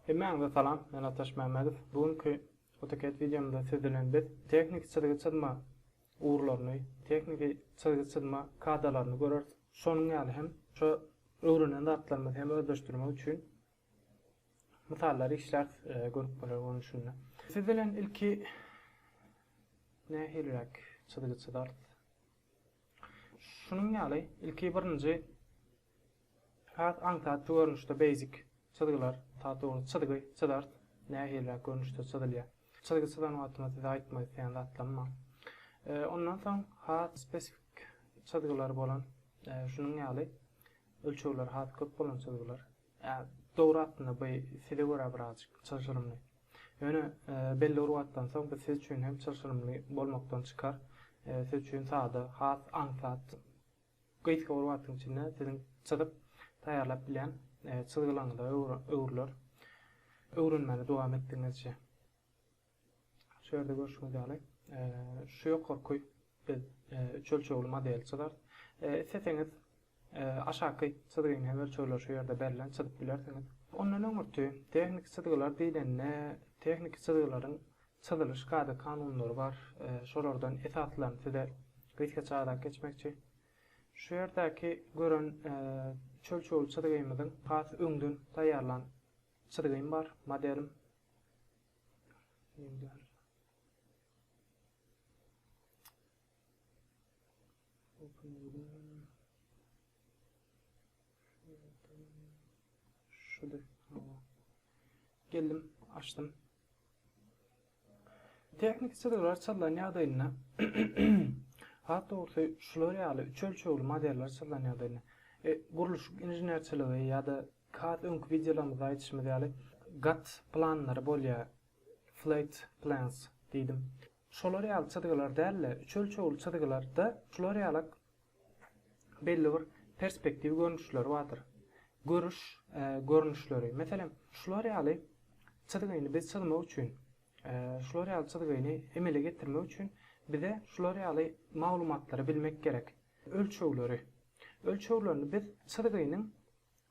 Hemmäňize salam, men Ataş Mämmedow. Bu günki AutoCAD wideomda siz bilen biz tehniki çyzgy çyzma ugurlaryny, tehniki çyzgy çyzma kadalaryny göreris. Şonuň ýaly hem şu öwrenen zatlarymyzy hem özleşdirmek üçin mysallary işläris görüpmeler görnüşinde. Siz bilen ilki nähiliräk çyzgy çyzarys? Şunuň ýaly, ilki birinji has aňsatly görnüşde basic çyzgylar, daha dogry çyzgy çyzarys, nähiliräk görnüşde çyzylýar. Çyzgy çyzan wagtymda size aýtmak isleýän zatlarym bar. Ondan soň has spesifik çyzgylar bolan, şunuň ýaly ölçegleri has köp bolan çyzgylar. Ýa, dogry aslynda bu size görä birazajyk çylşyrymly. Ýöne belli bir wagtdan soň bu siz üçin hem çylşyrymly bolmakdan çykar. Siz üçin sada, has aňsat, gysga bir wagtyň içinde siziň çyzyp taýýarlap bilýän çyzgylaryňyza öwrüler, öwrenmäne dowam etdigiňizçe. Şu ýerde görşüňiz ýaly, şu ýokarky biz üç ölçegli modeli çyzarys. Isleseňiz, aşaky çyzgyny hem ölçegler şu ýerde berlen, çyzyp bilersiňiz. Ondan öňürti, tehniki çyzgylar diýlende, tehniki çyzgylaryň çyzylyş kada-kanunlary bar. Şolardan esaslaryny size gysgaça aýlap geçmekçi. Şu ýerdäki gören üç ölçegli çyzgymyzyň has öňden taýýarlan çyzgym bar, modelim. Geldim, açdym. Tehnik çyzgylar çyzlan ýagdaýynda hat dogrusy şular ýaly üç ölçegli modeller çyzlan ýagdaýynda e, gurluşyk inženerçiligi ýa-da Has öňki wideolarymyzda aýdyşymyz ýaly gat planlary bolýar, flat plans diýdim. Şolar ýaly çyzgylar däl-de, üç ölçegli çyzgylarda şular ýaly belli bir perspektiw görnüşleri bardyr. Görüş görnüşleri. Meselem, şular ýaly çyzgyny biz çyzmak üçin, şular ýaly çyzgyny emele getirmek üçin bize şular ýaly maglumatlary bilmek gerek. Ölçegleri. Ölçeglerini biz çyzgynyň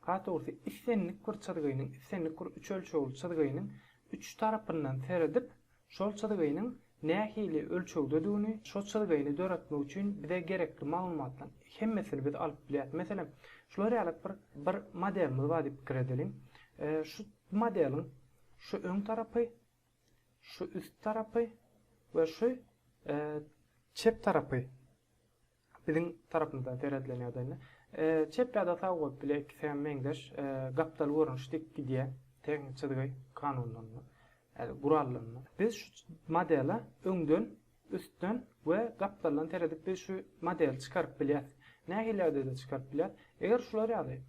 Katursy islendik bir çyzgynyň, islendik bir üç ölçegli çyzgynyň üç tarapyndan seredip, şol çyzgynyň nähili ölçegdedigini, şo çyzgyny döretmek üçin bize gerekli maglumatlaryň hemmesini biz alyp bilýäris. Meselem, şular ýaly bir bir modelimiz bar diýip pikir edeliň. Şu modeliň şu öň tarapy, şu üst tarapy we şu çep tarapy. Biziň tarapymyzdan seredilende ýagdaýynda çep ýa-da sag bolup bilýär, ikisi hem meňzeş gapdal görnüş dik gidýär, tehniki çyzgy kanunlarynda, ýa-da gurallarynda. Biz şu modele öňden, üstden we gapdaldan seredip biz şu modeli çykaryp bilýäs. Nähili ýagdaýda çykaryp bilýäs? Eger şular ýaly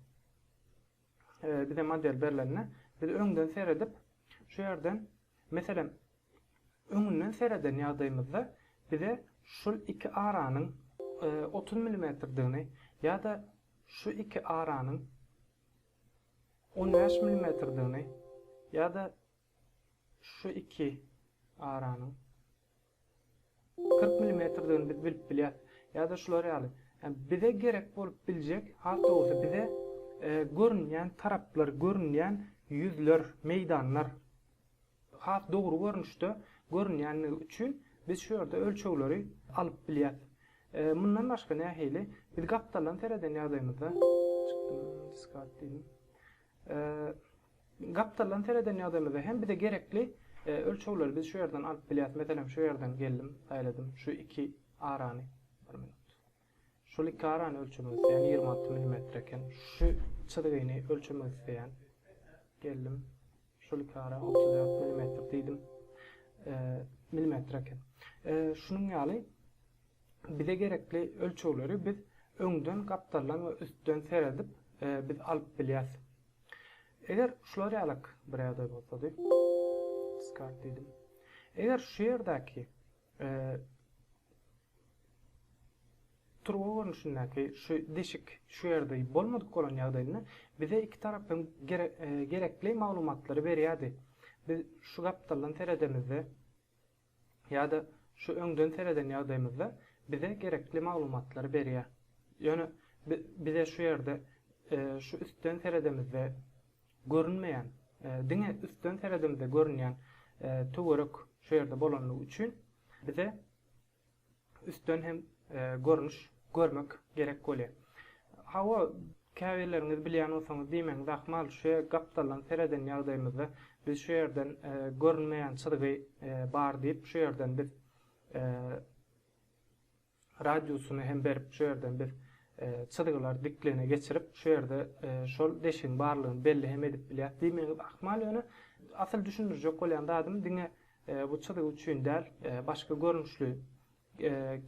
bize model berlende biz öňden seredip şu ýerden Meselem, öňünden sereden ýagdaýymyzda bize şul iki aranyň otuz milimetrdigini ýa-da şu iki aranyň on bäş milimetrdigini ýa-da şu iki aranyň Kyrk milimetrdigini biz bilip bilýäs. Ýa-da şular ýaly. Bize gerek bolup biljek, has dogrusy, bize görünýän taraplar, görünýän ýüzler, meýdanlar has dogry görnüşde görünýänligi üçin biz şu ýerde ölçegleri alyp bilýäs. Mundan başga nähili? Biz gapdaldan sereden ýagdaýymyzda, çykdym, discard diýdim. Gapdaldan sereden ýagdaýymyzda hem bize gerekli ölçegleri biz şu ýerden alyp bilýäs. Meselem, şu ýerden geldim, saýladym. Şu iki arany, bir minut. Şol iki arany ölçemek isleýän, ýigrimi alty millimetr eken. Şu çyzgyny ölçemek isleýän. Geldim. Şol iki ara otuz dört millimetr diýdim. Millimetr eken. Şunuň ýaly bize gerekli ölçegleri biz öňden gapdaldan we üstden seredip biz alyp bilýäs. Eger şular ýalak bir ýagdaý bolsady, Diskard diýdim. Eger şu ýerdäki turba görnüşindäki şu deşik şu ýerde bolmadyk bolan ýagdaýynda bize iki tarap hem gerekli maglumatlary berýärdi. Biz şu gapdaldan seredemizde ýa-da şu öňden sereden ýagdaýymyzda bize gerekli maglumatlary berýär. Ýöne bize şu ýerde şu üstden seredemizde görünmeýän, diňe üstden seredemizde görünýän töwerek şu ýerde bolanlygy üçin bize üstden hem görnüş görmek gerek bolýar. Hawa, käbirleriňiz bilýän bolsaňyz diýmegiňiz ahmal, şu gapdaldan sereden ýagdaýymyzda biz şu ýerden görünmeýän çyzgy bar diýip, şu ýerden biz radiusyny hem berip, şu ýerden biz çyzgylar diklene geçirip, şu ýerde şol deşigiň barlygyny belli hem edip bilýäris diýmegiňiz ahmal, ýöne asyl düşündirjek bolýan zadym diňe Bu çyzygy üçin däl, başga görnüşli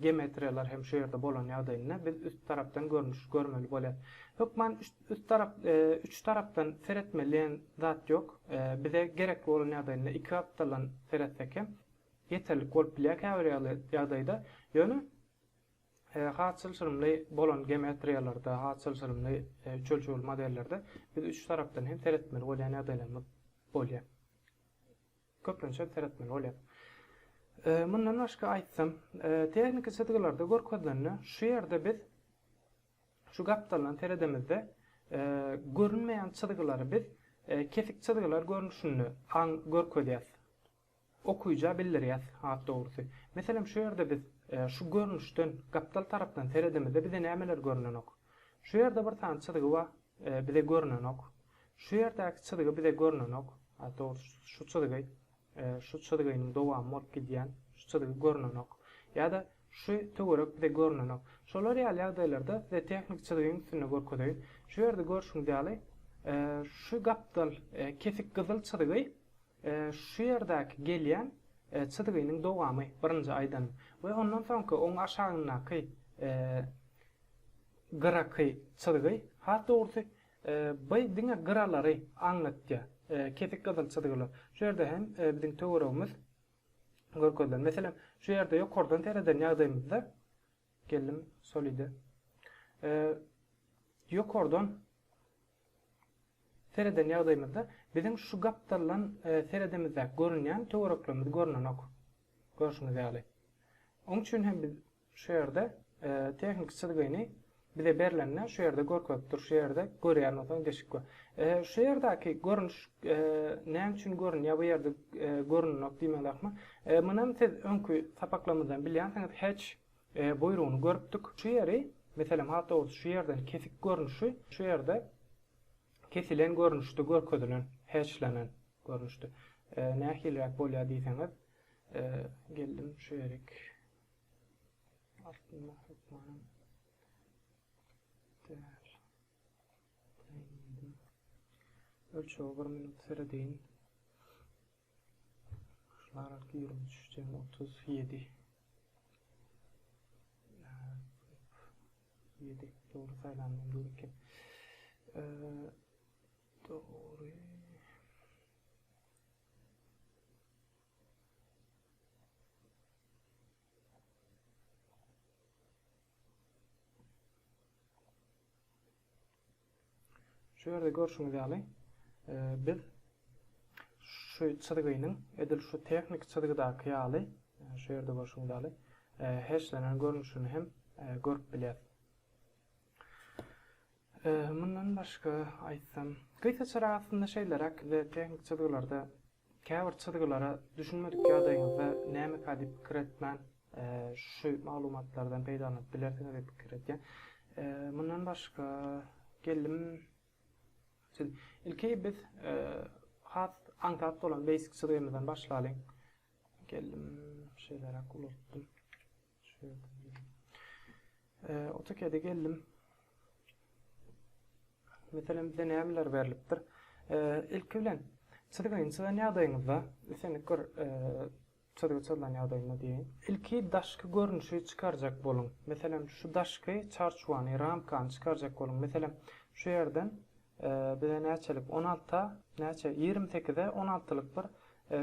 geometriýalar hem şu ýerde bolan ýagdaýynda biz üst tarapdan görnüş görmeli bolýar. Hökman üst tarap üç tarapdan seretmeli diýen zat ýok. Bize gerekli bolan ýagdaýynda iki gapdaldan seretsek hem ýeterlik bolup bilýär käbir ýagdaýda. Ýöne has çylşyrymly bolan geometriýalarda, has çylşyrymly üç ölçegli modellerde biz üç tarapdan hem seretmeli bolýan ýagdaýlarymyz bolýar. köplençek seretmeli bolýar. Mundan başga aýtsam, tehniki çyzgylarda görkezilende şu ýerde biz şu gapdaldan seredemizde görünmeýän çyzgylary biz kesik çyzgylar görnüşinde aň görkezýäs, okyja bildirýäs has dogrusy. Meselem şu ýerde biz şu görnüşden gapdal tarapdan seredemizde bize nämeler görnenok. Şu ýerde bir sany çyzgy bar. Bize görnenok. Şu ýerdäki çyzgy bize görnenok. Dogrusu, şu çyzgy, şu çyzgynyň dowamy bolup gidýän şu çyzgy görnenok. Ýa-da şu töwerek bize görnenok. Şolar ýaly ýagdaýlarda size tehniki çyzgyň üstünde görkezeýin. Şu ýerde görşüňiz ýaly, şu gapdal kesik gyzyl çyzgy şu ýerdäki gelýän çyzgynyň dowamy, birinji aýdanym. We ondan soňky, oň aşagyndaky Gyraky çyzgy, has dogrusy, by diňe gyralary aňlatýar, kesik gyzyl çyzgylar. Şu ýerde hem biziň töweregimiz görkezilen. Meselem, şu ýerde ýokardan sereden ýagdaýymyzda, geldim şol ide, ýokardan sereden ýagdaýymyzda biziň şu gapdalydan seredemizde görünýän töwereklerimiz görnenok, görşüňiz ýaly. Oň üçin hem biz. Şu ýerde tehniki çyzgyny bize berlende şu ýerde görkezip dur. Şu ýerde görýän bolsaň deşik gör. Şu ýerdäki görnüş näme üçin görünýär? Bu ýerde görünenok diýmek lakmy? Munam siz öňki sapaklarymyzdan bilýänsiňiz hatch buýrugyny görüpdik. Şu ýeri, meselem has dogrusy şu ýerden kesik görnüşi şu ýerde kesilen görnüşde görkezilen, hatchlenen görnüşde nähiliräk bolýar diýseňiz, geldim şu ýerik. Aslynda hökmanam däl. Ölçege bir minut seredeýin. Şular arky ýigrimi üç jem otuz ýedi. Ýedi dogry saýlanmam gerek. Dogry. Şu ýerde görşüňiz ýaly, e, biz şu çyzgynyň edil şu tehnik çyzgydaky ýaly, e, şu ýerde görşüňiz ýaly, e, heşlenen görnüşini hem görüp bilýäris. Mundan başga aýtsam, gysaçarak aslynda şeýleräk, tehnik çyzgylarda Käbir çyzgylara düşünmedik ýagdaýyňyzda nämeka diýip pikir etmän, şu maglumatlardan peýdalanyp bilersiňiz diýip pikir edýän. Mundan başga geldim siz ilki biz has aňsat bolan basic çyzgymyzdan başlalyň. Geldim şeýleräk ulaltdym. AutoCAD-e geldim. Meselem, bize nämeler berlipdir? Ilki bilen çyzgyny çyzan ýagdaýyňyzda, islendik bir çyzgy çyzylan ýagdaýynda diýeýin. Ilki daşky görnüşi çykarjak boluň. Meselem, şu daşky çarçuwany, ramkany çykarjak boluň. Meselem, şu ýerden bize näçelik 16-a, näçe 28-e 16-lyk bir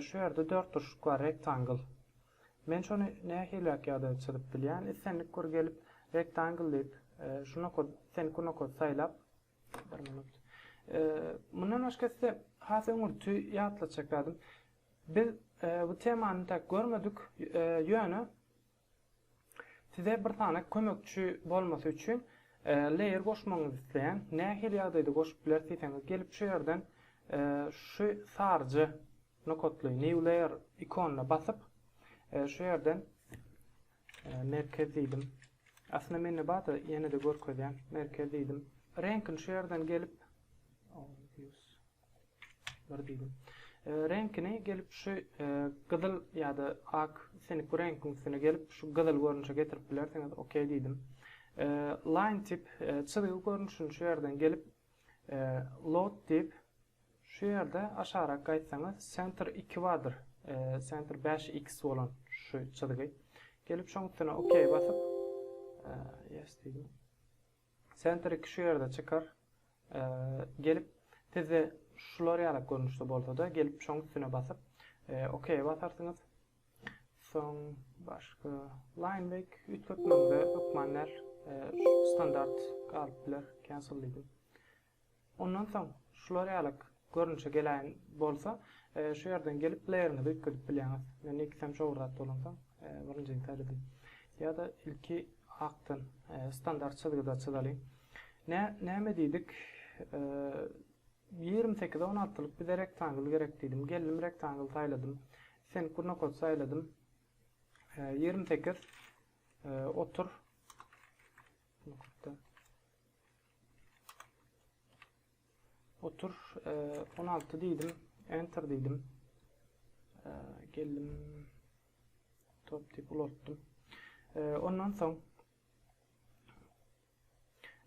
şu ýerde dörtburçluk bar, rektangl. Men şony nähiliräk ýagdaýda çyzyp bilýän, islendik bir gelip Rectangle diýip, şu nokady, islendik nokady saýlap, bir minut. Mundan başga size has öňürti ýatlatjak zadym, biz bu temany täk görmedik, ýöne size bir sany kömekçi bolmasy üçin layer goşmagyňyzy isleýän, nähili ýagdaýda goşup bileris diýseňiz, gelip şu ýerden şu saryja Nokatly New Layer ikonyna basyp, şu ýerden Merkez diýdim. Aslynda mende bar-da, ýene-de görkezýän. Merkez diýdim. Reňkini şu ýerden gelip, bir diýdim. Reňkini gelip şu gyzyl ýa-da ak, islendik bir reňkiň üstüne gelip, şu gyzyl görnüşe getirip bilersiňiz. OK diýdim. Line tip, çyzgy görnüşini şu ýerden gelip, Load diýip, Şu ýerde aşagrak gaýtsaňyz Center iki bardyr. Center bäş x bolan şu çyzgy. Gelip şoň üstüne ok basyp yes diýdim. Center iki şu ýerde çykar. Gelip sizde şular ýalak görnüşde bolsada gelip şoň üstüne basyp ok basarsyňyz. Soň başga line break üýtgetmegiňize hökman däl. Standart galyp biler. Cancel diýdim. Ondan soň şular ýalak görnüşe geläýen bolsa, şu ýerden gelip playeriňizi üýtgedip bilýäňiz. Men ilkisem şowurdat bolansoň, birinjini saýladym. Ýa-da ilki akdan, standart çyzgyda çyzalyň. Nä, näme diýdik? Ýigrimi sekize on altylyk bize rektangl gerek diýdim. Geldim rektangl saýladym. Sen gurnokot saýladym. Ýigrimi sekiz otur. Gurnokotda. Otur 16 diýdim, enter diýdim. Geldim. Top tip ulatdym. Ondan soň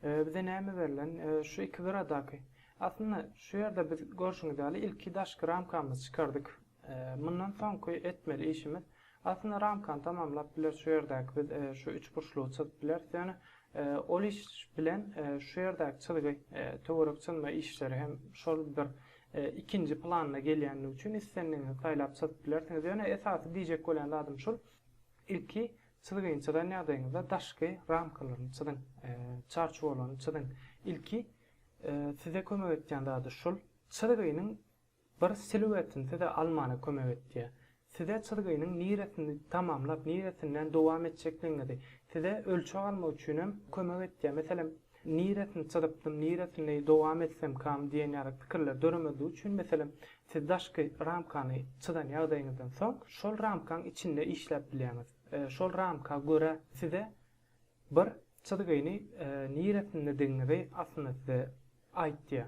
bize näme berlen? Şu iki gyradaky. Aslynda şu ýerde biz görşüňiz ýaly ilki daşky ramkamyzy çykardyk. Mundan soňky etmeli işimiz Aslynda ramkany tamamlap bileris şu ýerdäki biz şu üçburçlugy çyzyp bileris ýöne ol iş bilen şu ýerdäki çyzgy töwerek çyzma işleri hem şol bir ikinji planda gelýändigi üçin islendigiňizi saýlap çyzyp bilersiňiz ýöne esasy diýjek bolýan zadym şul ilki çyzgyny çyzan ýagdaýyňyzda daşky ramkalaryny çyzyň çarçuwalaryny çyzyň ilki size kömek etýän zady şul çyzgynyň Bir siluetin size almana kömek etýär. Size çyzgynyň niresini tamamlap, niresinden dowam etjekdigiňizi, size ölçeg almak üçin hem kömek etýär. Meselem, niresini çyzypdym, niresini dowam etsemkam diýen ýaly pikirler döremezligi üçin, meselem, siz daşky ramkany çyzan ýagdaýyňyzdan soň, şol ramkaň içinde işläp bilýäňiz. Şol ramka görä size bir çyzgyny niresindediginizi aslynda size aýtýar.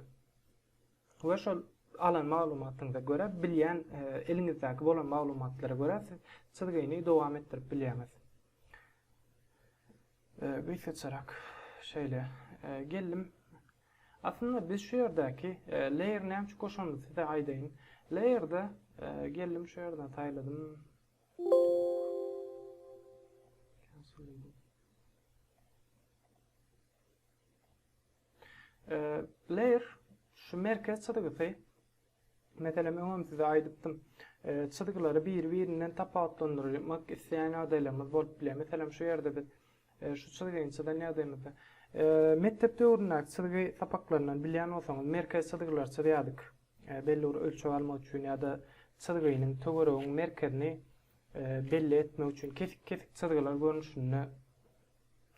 we şol alan maglumatyňyza görä, bilýän, eliňizdäki bolan maglumatlara görä siz çyzgyny dowam etdirip bilýäňiz. Gysgaçarak şeýle geldim. Aslynda biz şu ýerdäki layer näme üçin goşanyny size aýdaýyn. Layerde geldim şu ýerden saýladym. Layer şu merkez çyzgysy Meselem öňem size aýdypdym. Çyzgylary biri-birinden tapawutlandyrmak isleýän ýagdaýlarymyz bolup bilýär. Meselem şu ýerde biz şu çyzgyny çyzan ýagdaýymyzda mekdep döwründäki çyzgy sapaklaryndan bilýän bolsaňyz merkez çyzgylary çyzýardyk. Belli bir ölçeg almak üçin ýa-da çyzgynyň töweregiň merkezini belli etmek üçin kesik-kesik çyzgylar görnüşinde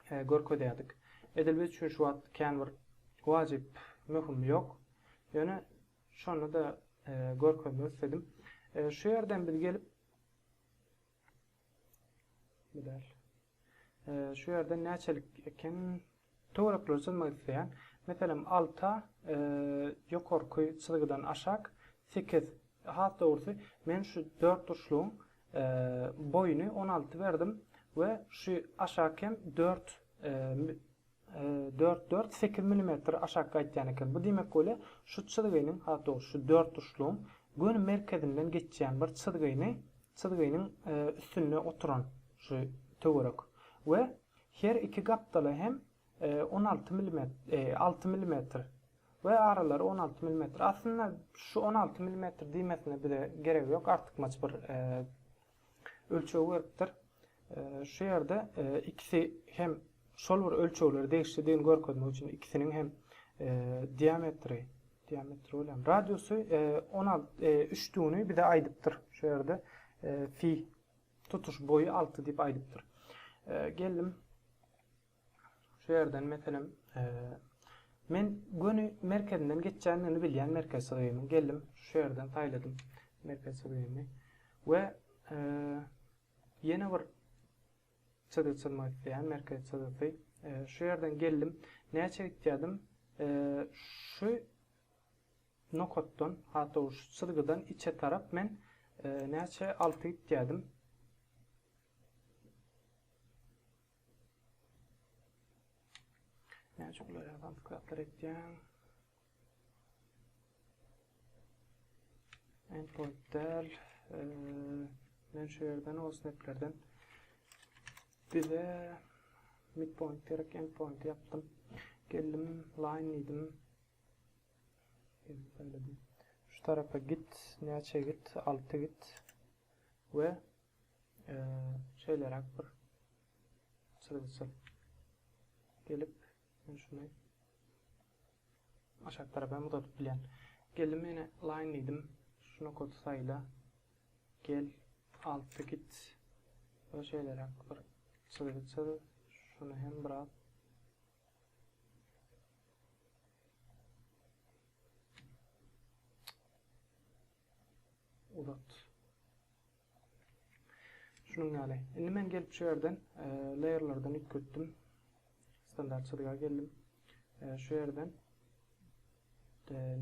görkezýärdik. Edil biz üçin şu wagt kän bir wajyp, möhüm ýok. Ýöne şony-da görkezmek isledim. Şu ýerden biz gelip Bu däl. Şu ýerden näçelik eken töwerekleri çyzmak isleýän. Meselem 6 ýokarky çyzgydan aşak 8 has dogrusy men şu dört burçlugyň Boýuny on alty berdim we şu aşak hem dört dört dört sekiz milimetr aşak gaýtýan eken. Bu diýmek bolýa şu çyzgynyň has dogry şu dört urçlugyň göni merkezinden geçýän bir çyzgyny çyzgynyň üstünde oturan şu töwerek we her iki gapdala hem On alty milimetr, alty milimetr we aralary on alty milimetr. Aslynda şu on alty milimetr diýmesine bize geregi ýok, artykmaç bir ölçeg beripdir. Şu ýerde ikisi hem şol bir ölçegleri degişlidigini görkezmek üçin ikisiniň hem e, diametri diametri bolýar. Radiusy 16 e, e, üç düwni bize aýdypdyr. Şu ýerde fi tutuş boýy 6 diýip aýdypdyr. Geldim Şu ýerden meselem, men göni merkezinden geçýändigini bilýän merkez syrýaymyň. Geldim, şu ýerden saýladym merkez syrýamy we ýene bir çyzygy çyzmak isleýän merkez çyzgysy. Şu ýerden geldim, näçe gitýädim? Şu nokatdan, hat dogry şu çyzgydan içe tarap men näçe alty gitýädim? Näçe uly adam sklaplar etýäň? Endpoint däl. Men şu ýerden o snaplerden bize midpoint gerek endpoint ýapdym. Geldim line diýdim. Geldim söýledim. Şu tarapa git, näçe git, 6 git. We şeýleräk bir çyzgyçyl gelip, men şuny aşak tarap hem uzadyp bilýän. Geldim ýene line diýdim. Şu nokady saýla. Gel, alty git we şeýleräk bir çyzgy çyz. Şuny hem biraz Uzat. Şunuň ýaly. Indi men gelip şu ýerden Layerlardan üýtgetdim. Standart çyzyga geldim. Şu ýerden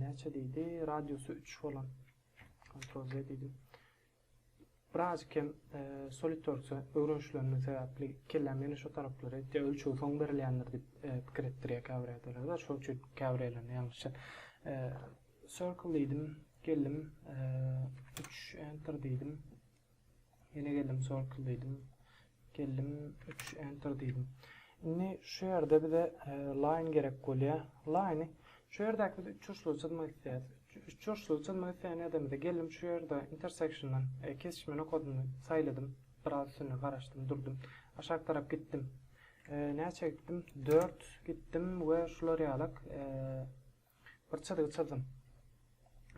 näçe diýdi? Radiusy 3 bolan. Ctrl Z diýdim. Birazikkem Solidworks-a öwrenişilendim sebäpli kelläm ýene şo taraplary etýär, ölçegi soň berilýändir diýip pikir etdirýär käbir ýagdaýlarda, şol üçin käbir ýerlerinde ýalňyşýar. Circle diýdim, geldim, üç enter diýdim, ýene geldim Circle diýdim. Geldim üç enter diýdim. Indi şu ýerde bize line gerek bolýa. Line-i şu ýerdäki biz üçburçlugy çyzmak isleýäs. Üçburçlugy çyzmak isleýän ýerdemizde geldim şu ýerde intersection-dan kesişme nokadyny saýladym. Biraz üstünde garaşdym durdum. Aşak tarap gitdim. Näçe gitdim? Dört gitdim we şular ýalak. Bir çyzygy çyzdym.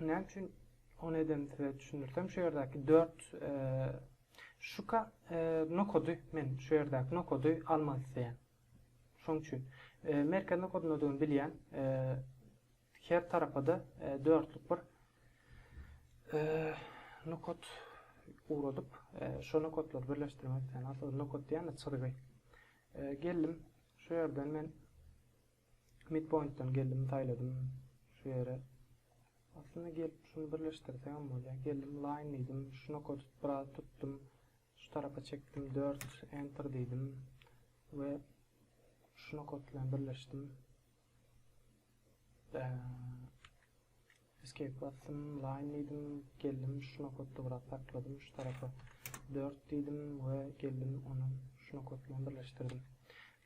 Näme üçin ony edenimi size düşündirsem, şu ýerdäki dört şuka nokady men şu ýerdäki nokady almak isleýän. Şoň üçin merkez nokadyny bilýän her tarapa-da dörtlük bir nokat ugradyp, şu nokatlary birleşdirmek isleýän. Aslynda nokat diýen-de çyzygy. Geldim, şu ýerden men Midpointdan geldim saýladym şu ýere. Aslynda gelip şuny birleşdirsegem bolýar. Geldim line diýdim. Şu nokady biraz tutdum. Şu tarapa çekdim dört enter diýdim. We şu nokat bilen birleşdim. Eee Escape basdym, line diýdim, geldim şu nokatda biraz sakladym, şu tarapa dört diýdim we geldim ony şu nokat bilen birleşdirdim.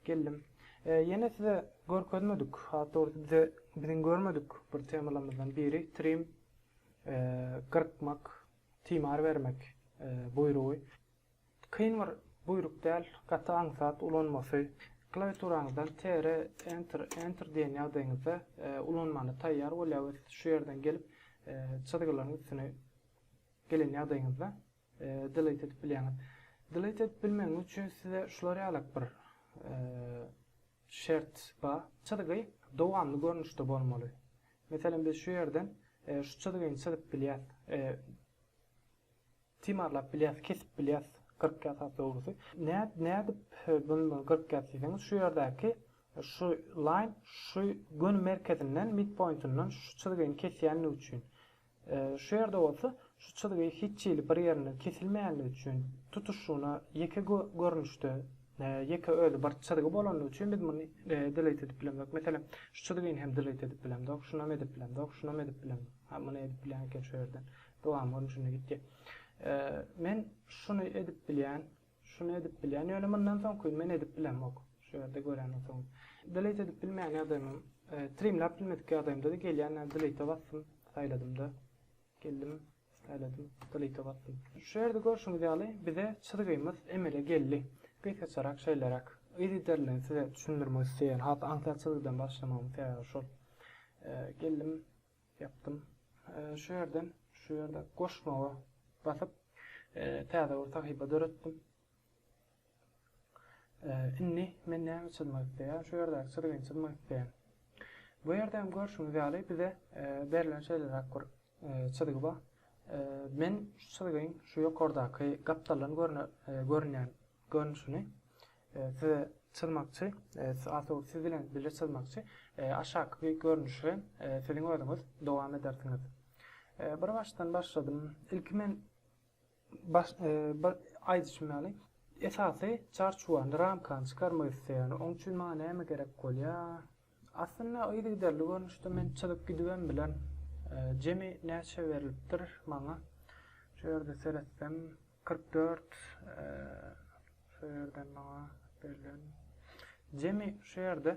Geldim. Ýene size görkezmedik, has dogrusy bize biziň görmedik bir temalarymyzdan biri trim gyrkmak, timar bermek buýrugy. Kyn bir buýruk däl, gaty aňsat ulanmasy. Klawiaturaňyzdan TR, Enter, Enter diýen ýagdaýyňyzda ulanmana taýýar bolýarys. Şu ýerden gelip, çyzgylaryň üstüne gelen ýagdaýyňyzda Delete edip bilýäňiz. Delete edip bilmegiňiz üçin size şular ýalak bir şert bar. Çyzgy dowamly görnüşde bolmaly. Meselem, biz şu ýerden şu çyzgyny çyzyp bilýäs. Timarlap bilýäs, kesip bilýäs gyrk ýasap dogrusy. Nädip bunu gyrk ýas diýseňiz şu ýerdäki şu laýn şu göni merkezinden midpointinden şu çyzgyny kesýänligi üçin. Şu ýerde bolsa şu çyzgy hiç hili bir ýerinden kesilmeýänligi üçin tutuşygyna ýeke görnüşde ýeke özi bir çyzgy bolanlygy üçin biz muny delete edip bilemzok. Meselem şu çyzgyny hem delete edip bilemzok, şunam edip bilemzok, şunam edip bilemzok. Muny edip bilýän eken şu ýerden. Dowam boldy şunda gitdi. Men şuny edip bilýän, şuny edip bilýän, ýöne mundan soňkyny men edip bilemok. Şu ýerde göreniň soň. Delete edip bilmeýän ýagdaýymam, trimläp bilmedik ýagdaýymda-da gelýän delete basdym, saýladym-da. Geldim, saýladym, delete basdym. Şu ýerde görşüňiz ýaly bize çyzgymyz emele geldi. Gysgaçarak şeýleräk. Yzygider bilen size düşündirmek isleýän has aňsat çyzgydan başlamagymyň sebäbi şol. Geldim, Ýapdym. Şu ýerden, şu ýerde goşmaga basyp, täze bir sahypa döretdim. Indi men näme çyzmak isleýän? Şu ýerdäki çyzgyny çyzmak isleýän. Bu ýerde hem görşüňiz ýaly bize berlen şeýleräk bir çyzgy bar. Men şu çyzgyň şu ýokardaky gapdaldan görünýän görnüşini size çyzmakçy, artawry siz bilen birje çyzmakçy. Aşaky görnüşi siziň özüňiz dowam edersiňiz. Bir başdan başladym. Ilki men baş, bir aýdyşym ýaly esasy çarçuwany, ramkany çykarmak isleýän. Oň üçin maňa näme gerek bolýar? Aslynda yzygiderli görnüşde men çyzyp gidibem bilerin. Jemi näçe berlipdir maňa? Şu ýerde seretsem kyrk dört şu ýerden maňa berlen jemi şu ýerde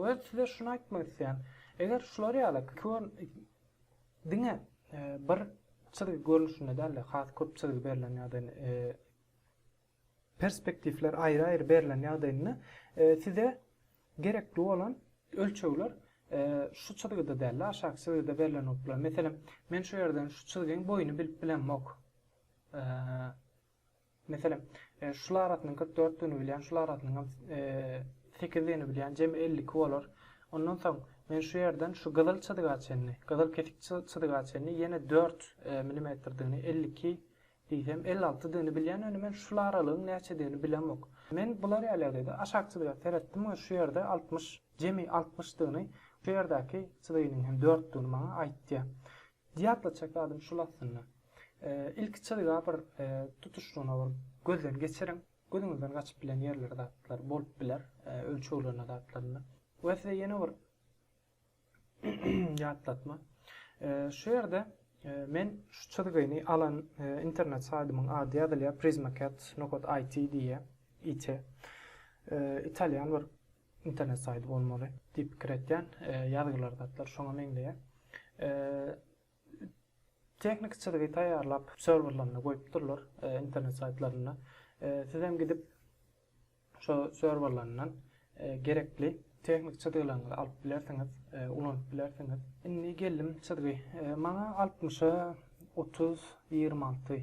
we size şuny aýtmak isleýän eger şular ýaly kör diňe bir çyzgy görnüşinde däl-de has köp çyzgy berlen ýagdaýynda Perspektiwler aýry-aýry berlen ýagdaýynda size gerekli bolan ölçegler şu çyzgyda däl-de, aşaky çyzgyda berlen bolup biler. Meselem, men şu ýerden şu çyzgyň boýuny bilip bilemok. Meselem, şul arasynyň kyrk dörtdigini bilýän, şul arasynyň hem sekizdigini bilýän, jemi elli iki bolar. Ondan soň, men şu ýerden şu gyzyl çyzga çenli, gyzyl kesik çyzga çenli ýene dört milimetrdigini, elli iki Diýsem, elli alty dini bilýän öni men şul aralygyň näçedigini bilemok. Men bular ýalyýalydy. Aşakçy biraz seretdim we şu ýerde altmyş, jemi altmyşdygyny, şu ýerdäki çyzygynyň hem dörtdigini maňa aýtýar. Diýatlatjak zadym şul aslynda. Ilki çyzyga bir tutuşlygyna bir gözden geçiriň. Gözüňizden gaçyp bilen ýerleri zatlar bolup biler, ölçeglerine zatlarynda. We size ýene bir Ýatlatma. Şu ýerde men şu çyzgyny alan internet saýdymyň ady ýazylýar Prismacat nokat IT diýýär. IT. Italýan bir internet saýdy bolmaly diýip pikir etýän. Ýazgylar zatlar şoňa meňzeýär. Tehniki çyzgy taýýarlap serwerlerinde goýupdyrlar internet saýtlarynda. Sizem gidip Şo serwerlerinden gerekli tehnik çyzgylaryňyzy alyp bilersiňiz, ulanyp bilersiňiz. Indi geldim çyzgy. Maňa altmyşa otuz ýigrimi alty.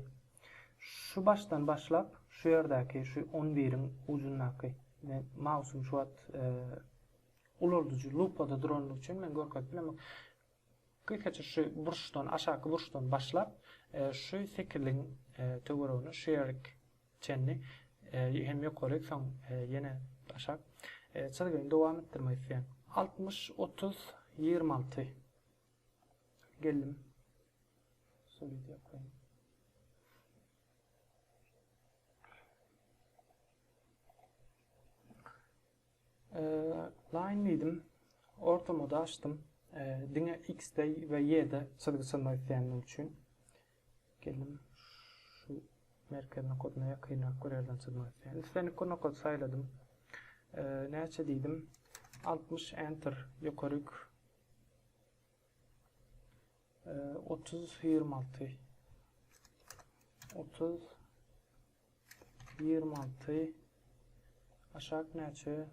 Şu başdan başlap, şu ýerdäki, şu on biriň ujundaky, men mausym şu wagt ulaldyjy lupada duranlygy üçin men görkezip bilemok. Ilkinji şu burçdan, aşaky burçdan başlap, şu sekizligiň töweregini şu ýerik çenli hem ýokaryk, soň ýene aşak çyzgyny dowam etdirmek isleýän. Altmyş, otuz, ýigrimi alty. Geldim. Solid ýokaýyn. Line diýdim. Ortamada açdym. Diňe X-de we Y-de çyzgy çyzmak isleýändim üçin. Geldim. Şu merkez nokadyna ýakynrak bir ýerden çyzmak isleýän. Islendik bir nokady saýladym. Näçe diýdim. 60 enter ýokaryk 30 26 30 Ýigrimi alty. Aşak näçe?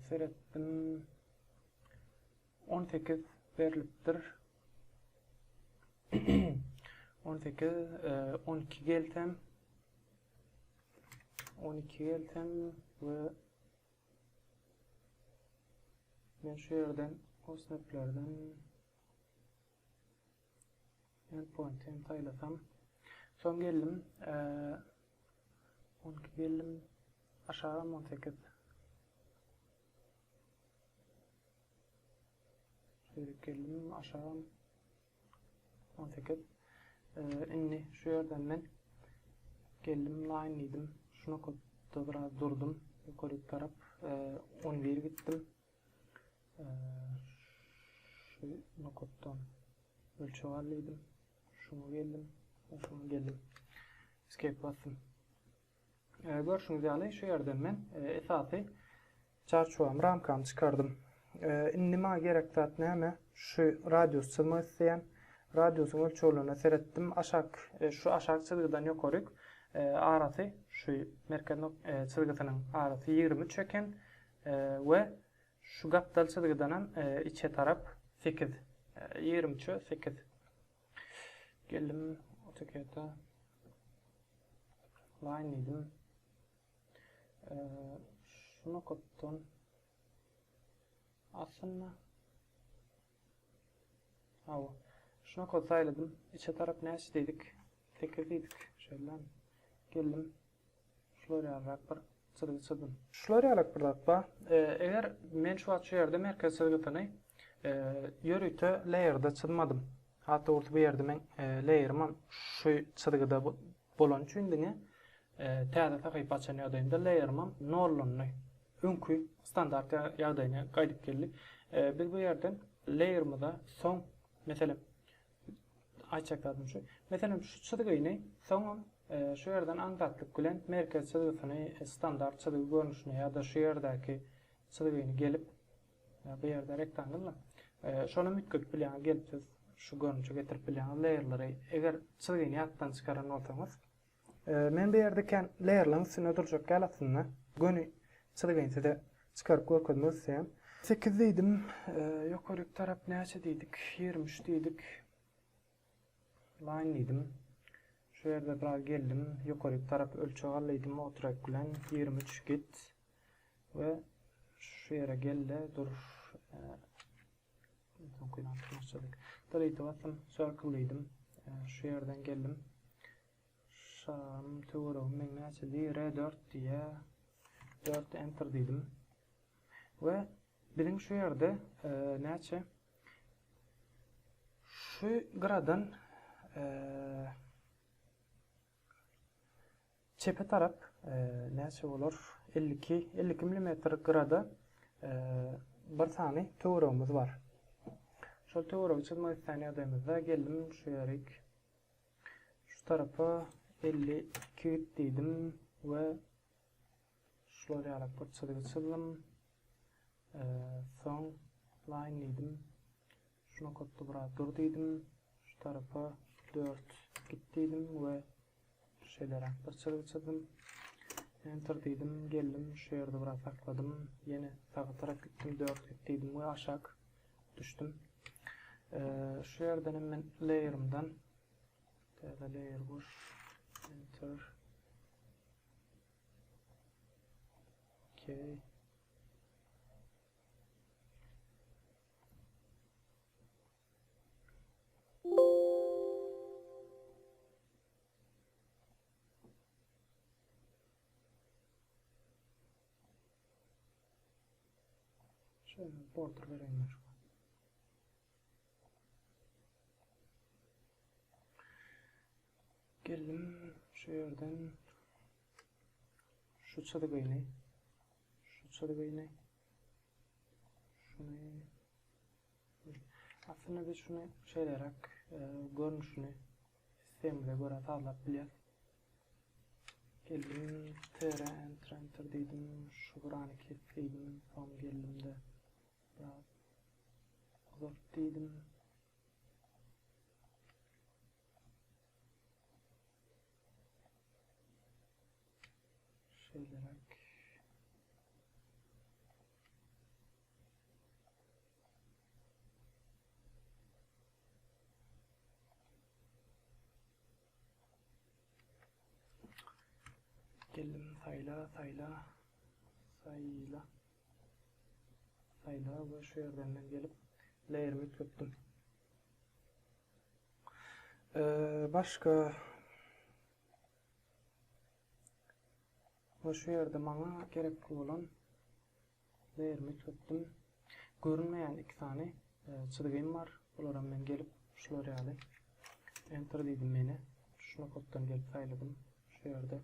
Seretdim. On sekiz berlipdir. On sekiz. On iki gelsem. On iki gelsem we men şu ýerden kosmetlerden Endpoint hem saýlasam. Soň geldim. 12 geldim. Aşagam 18. Şöýrek geldim. Aşagam 18. Indi şu ýerden men geldim line diýdim. Şuna köp biraz durdum. Ýokaryk tarap 11 gitdim. Şu nokatdan ölçeg al diýdim. Şuňa geldim. Şuňa geldim. Escape basdym. E, görüşüňiz ýaly şu ýerden men e, esasy çarçuwam ramkam çykardım. E, indi maňa gerek zat näme? Şu radius çyzmak isleýän. Radiusyň ölçeglerine seretdim. Aşak e, şu aşak çyzgydan ýokaryk e, arasy şu merkez e, çyzgysynyň arasy 23 eken. we şu gapdal çyzgydanam içe tarap sekiz ýigrimi üçe sekiz geldim otokede line diýdim şu nokatdan aslynda Hawa. Şunakat saýladym. Içe tarap näçe diýdik? Sekiz diýdik. Şeýlemi? Geldim. Şular ýalyrak bir çyzgy çyzdym. Şular ýalyrak bir zat bar. Eger men şu wagt şu ýerde merkez çyzgysyny ýörite laýerda çyzmadym. Hat dogrusy bu ýerde meň laýerimem şu çyzgyda Bolany üçin diňe täze sahypa açan ýagdaýynda layer-ym nollandy. Öňki standart ýagdaýyna gaýdyp geldi. Biz bu ýerden layer-ymyza soň, meselem, aýtjak zadym şu, meselem, şu çyzgyny soňam şu ýerden aňsatlyk bilen merkez çyzgysyny standart çyzgy görnüşine ýa-da şu ýerdäki çyzgyny gelip, Ýa bu ýerde reklam gelme. Şonam üýtgedip bilýäňiz gelip siz şu görnüşe getirip bilýäňiz layerlary eger çyzgyny ýatdan çykaran bolsaňyz. Men bu ýerde kän layerlaryň üstünde durjak däl aslynda. Göni çyzgyny size çykaryp görkezmek isleýän. Sekiz diýdim. Ýokaryk tarap näçe diýdik? Ýigrimi üç diýdik. Laýyn diýdim. Şu ýerde biraz geldim. Ýokaryk tarap ölçeg al diýdim otrek bilen ýigrimi üç git we şu ýere gel-de dur. Delete basdym. Circle diýdim. Şu ýerden geldim. Şam töweregi meň näçe diýýär? R dört diýýär. Dört enter diýdim. We Biziň şu ýerde näçe şu gyradan çepe tarap näçe bolar? 52 52 millimetr gyrada bir sany töweregimiz bar. Şol töweregi çyzmak isleýän ýagdaýymyzda geldim şu ýerik. Şu tarapa 52 diýdim we Şular ýaly bir çyzgy çyzdym. Soň Line diýdim. Şu nokatda biraz dur diýdim. Şu tarapa 4 git diýdim we şeýleräk bir çyzgy çyzdym. Enter diýdim, geldim, şu ýerde biraz sakladym. Ýene saga tarap gitdim, 4 git diýdim we aşak düşdüm. Şu ýerden hem men layerymdan täze layer boş enter Okay. Şöyle border vereyim şu. Geldim şu ýerden şu çyzgyny, şu çyzgyny, şuny, aslynda biz şuny şeýleräk e, görnüşini sistemimize görä sazlap bilýäs. Geldim tr enter enter diýdim, şu gurany kes diýdim, soň geldimde biraz uzalt diýdim. Şeýleräk. Geldim saýla saýla saýla saýla we şu ýerden men gelip layerimi üýtgetdim. Başga Ýa şu ýerde maňa gerekli bolan lerimi tutdum. Görünmeýän iki sany çyzgym bar. Bularam men gelip şular ýaly enter diýdim meni. Şu nokatdan gelip saýladym. Şu ýerde.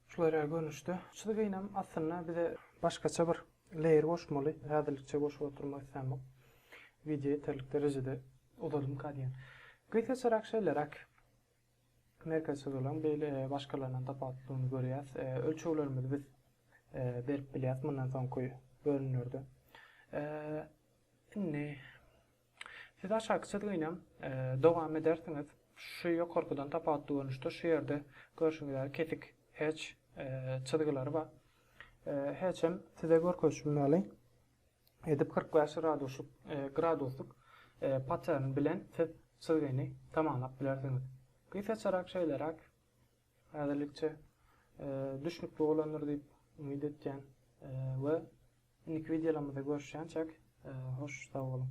Şular ýaly görnüşde. Şu gynyň aslynda bize başgaça bir layer goşmaly. Häzirlikçe goşup oturmak islämok. Wideo ýeterlik derejede uzalymka diýen. Gysgaçarak şeýleräk. Merkezçiliglaň beýle başgalaryndan tapawutlylygyny görýäs. Ölçeglerimizi biz berip bilýäs mundan soňky bölümlerde. Indi siz aşaky çyzgynyam dowam edersiňiz. Şu ýokarkydan tapawutly görnüşde şu ýerde görşüňiz ýaly kesik heç çyzgylary bar. Heçem size görkezişim ýaly. edip kyrk bäş graduslyk patern bilen siz çyzgyny tamamlap bilersiňiz. Gysgaçarak şeýleräk häzirlikçe düşnükli bolandyr diýip umyt etýän we indiki wideolarymyzda görüşýänçäk hoş sag boluň.